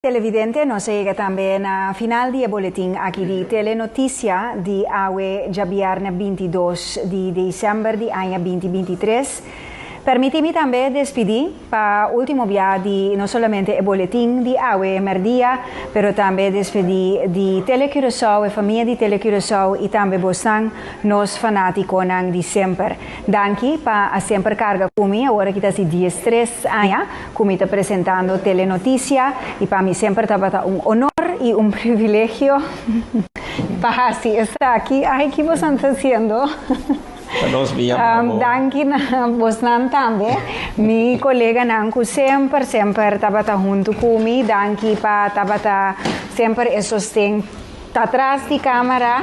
Televidente, nos a yega tambe na final di e boletin aki di Telenotisia di awe djabièrnè binti dos di desèmber di aña binti binti tres. Permití mi tambe despidí pa último biaha di no solamente e boletin di awe mèrdia, pero tambe despedí di Tele Curaçao, e famia di Tele Curaçao i tambe bosnan, nos fanátikonan di semper. Danki pa a semper karga ku mi awor aki ta si diestres aña. cu mi ta presentando Telenoticia y pa mi semper tabata un honor y un privilegio pa haci esaki. Ay, ki bosan ta haciendo? Pa nos mi a mama. Um, danki na bosnan tambe. Mi koleganan ku semper, semper tabata huntu ku mi. Danki pa tabata semper e sosten Ta tras di camera,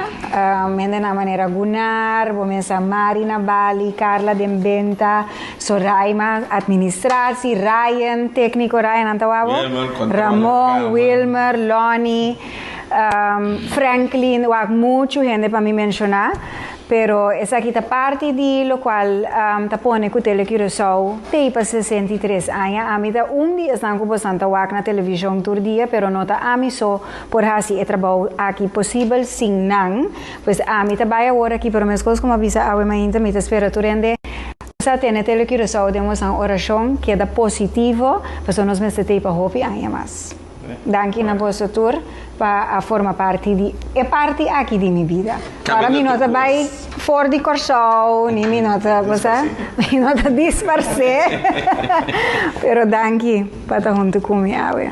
hende na manera Gunnar, bo mensa Mari na Bali, Carla den benta, Soraima administratie, Ryan tecnico, Ryan nan ta wawbo? Yeah man, controla Ramon, camera. Wilmer, Lonnie, Franklin, wak mucho hende pa mi menciona, pero esaki ta parti di locual ta pone cu Tele Curaçao tey pa sesenta i tres aña, ami ta un di esnan cu bo san ta wak na television tur dia, pero no ta ami so, por hasi e trabou aki posibel sin nan, pues ami ta bai awor aki, pero meskos como a bisa awe mainta mi ta spera tur hende sa tene Tele Curaçao den Westland Oracion keda positivo pasobra nos mester tei pa hopi aña mas. Danki na boso tur pa a forma parti di e parti aki di mi bida. Ora mi no ta bai for di Corsou ni mi no ta bo sa, mi no ta disparse pero danki pa ta huntu cu mi awe.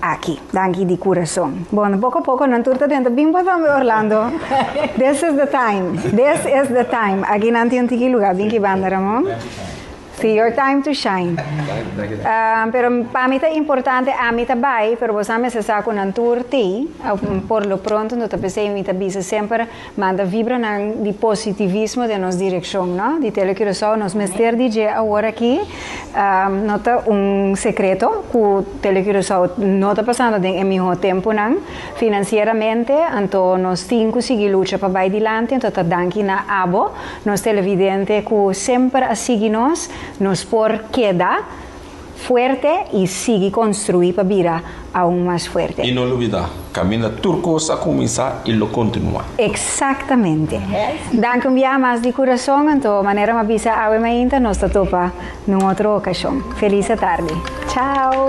Aki. Danki di kurason. Bon, poko poko nan tur ta denter bin pa tambe Orlando. This is the time. This is the time. Aki nan tin un tiki luga bin ki banda Ramon. Si your time to shine. Um, pero pa mi ta importante ami ta bai, pero bosa mester sa cu nan tur tei. Por lo pronto no ta p'esei mi ta bisa semper Manda vibranan di positivismo den nos direkshon, no? Di Tele Curaçao nos mester di dje awor aki, no ta un sekreto ku Tele Curaçao no ta pasando den e mihó tempunan finansieramente, anto nos tin ku sigui lucha pa bai dilanti, anto ta danki na abo nos televidente ku semper a sigui nos, nos por keda. fuerte y sigui construi pa bira aun mas fuerte. Y no lubida, caminda tur cos a cuminsa y lo continua. Exactamente. Danki un biaha mas di curazon, anto manera m'a bisa awe mainta nos ta topa n'un otro ocasion. Feliz atardi. Chao!